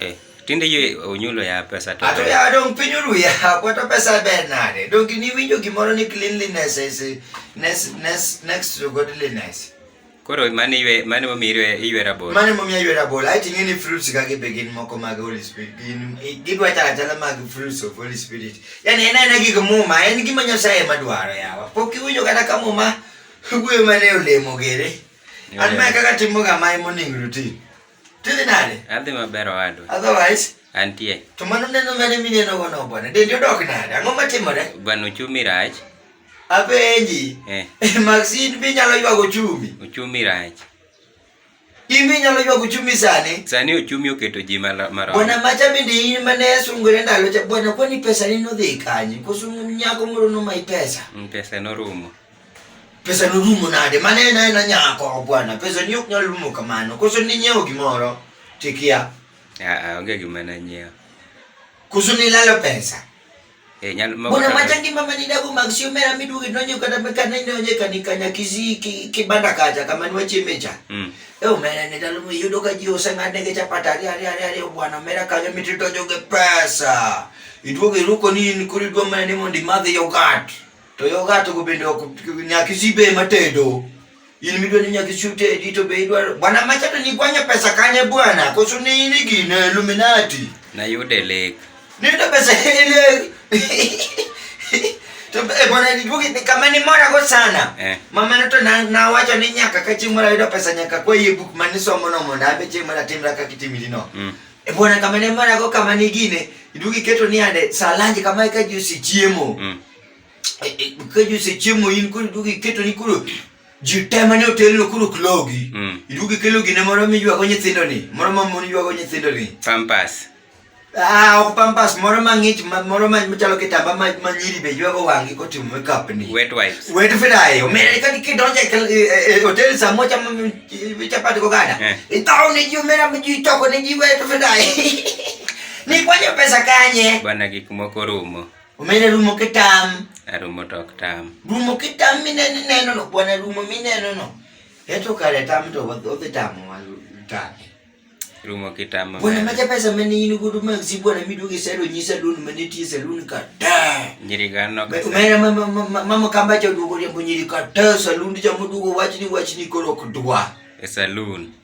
Eh, tinde yie onyulo ya pesa to. Ato ya dong piny uru ya kwato pesa ber nade. Dong ni winjo gimoro ni cleanliness is next next next to godliness. Koro mane ywe mane mo mirwe ywe rabol. Mane mo mirwe rabol. I think any fruits ka gi begin moko mag Holy Spirit. Gin gidwa tala tala mag fruits of Holy Spirit. Yani ena ena gik muma en gima Nyasaye madwaro yawa. Pok iwinjo kata ka muma gwe mane olemo gere. An ma kaka timo ga mai morning routine. Tudhi nade? Adhi maber owadwa. Otherwise? Antie. To mano neno mane mineno gono bwana? Dendi odok nade? Ang'o matimore? Bwana uchumi rach. Apenji. Eh. Maxine bi nyalo ywago uchumi. Uchumi rach. In bi nyalo ywago uchumi sani? Sani uchumi oketo ji marom. Bwana macha bende in mane sungore ndalo cha bwana kwani pesa ni nodhi kanyi? Kosungu nyako moro no mai pesa. Mm, pesa norumo. pesa norumo nade mana en aena nyako bwana pesa ni ok nyal rumo kamano koso ninyiewo gimoro tikia Ah, ah, onge gima nanyiewo koso nilalo pesa Eh, nyalo- moko bwana kata- macha ngima manidago mag siomera miduogi donjo kata kanidonje kanikanya kisi ki- kibanda kacha kama niwachiemecha Mm. e omera ni ndalo miyudo ka ji oseng'adnegi chapat ariyo ariyo ariyo ariyo bwana omera kanyo mititojo gi pesa iduogo iruko ni in koro idwa mana ni mondo imadh yogat To yo gato go bende ok nyaka isibe ema tedo. In midwa ni nyaka isiu tedi to be idwaro. Bwana macha to nikwanya pesa kanye bwana? Koso ni in gin Illuminati. Nayude lek. Niyudo pesa ile. To e bwana niduogi ni kama ni mora go sana. Eh. Mama no to na, na wacho ni nyaka ka chieng' mora yudo pesa nyaka kwa yie buk mane somo no mondo abe chieng' mora timra kaka itimili no. Mm. E bwana kama ni mora go kama ni gine. Iduogi keto ni ande saa lanji kama eka ji osechiemo. Mm. keju sechiemo in koro iduogo iketo ni koro ji te mane otelno koro ok logi Mm. iduogo ikelo gine moro miywago nyithindo ni moro ma mon ywago nyithindo ni Pampas. Ah, ok pampas moro mang'ich ma- moro ma- machalo kitamba ma ma nyiri be ywago wang'gi kotimo makeup ni Wet wipes. wet fry omera kani kidonjo e kal- e- e- e hotel saa moja ma- ma- ma- chapati kogada Eh. ithao ne ji omera ma ji toko ne ji wet fry ni kwanyo pesa kanye Bwana gik moko rumo. Omena rumo kitam. Arumo to ok tam. Rumo kitam mineno ineno no bwana rumo mineno no. Eto kare tam to odhi tamo tame. Rumo kitamo. Bwana maja pesa mane in godo ma si bwana miduoge sero nyisa dun mane tie salon ka ta. Nyiri gano ka. Omena mama mama mama kamba cha duogo riambo nyiri ka ta salon cha muduogo wachni wachni koro kudwa. E salon.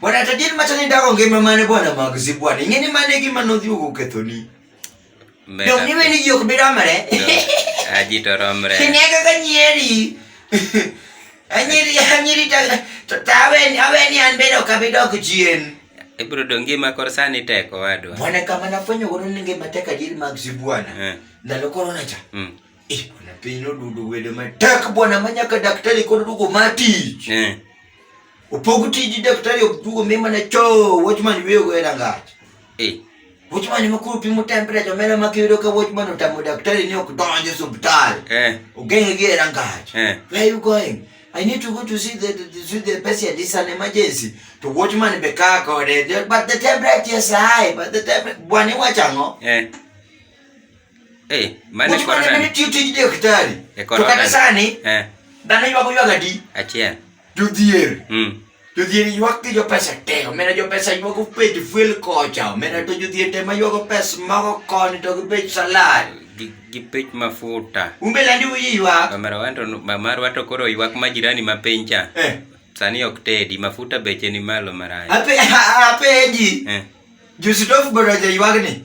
Bwana tajiri machani ndako ngima mane bwana mag zibwana. Ingeni mane gima nodhi ugo kethoni. Dom ni weni ji ok bi romre. Aji to romre. Kine kaka nyeri. Anyeri anyeri ta to taweni aweni an bedo kabidok chien. Ibro do ngima kor sani tek owadwa. Bwana kama nafwenyo godo ni ngima tek ajiri mag zibwana. Eh. Ndalo corona cha. Mm. Kuna piny odudo wedo matek bwana ma nyaka daktari kod dugo matich. Eh. Opog tiji daktari ok dugo mi mana cho watchman weyo go era ngach. Eh. Watchman ma kuru pimo temperature mera ma kiyudo ka watchman otamo daktari ni ok donje subtal. Eh. Ogenge gi era ngach. Eh. Where you going? I need to go to see the, the, see the patient. It's an emergency. To watchman be car code. But the temperature is high. But the temperature, bwana wachango. Eh. Eh, mane korona. Mane tiyo tij daktari. E korona. To kata sani. Eh. Dhano ywago ywaga di. Achiel. Jodhier. Mm. Jodhier ywak gi jo pesa te. Omena jo pesa ywago pej fuel kocha. Omena to jodhier te ma ywago pes mago koni to gi pej salad. Gi pej mafuta. Umbe landi uyi ywak. Omera wanto mamar wato koro ywak ma jirani ma piny cha. Eh. Sani ok tedi mafuta beche ni malo maraya. Ape ape ji. Eh. Jusitofu bado jaywagni.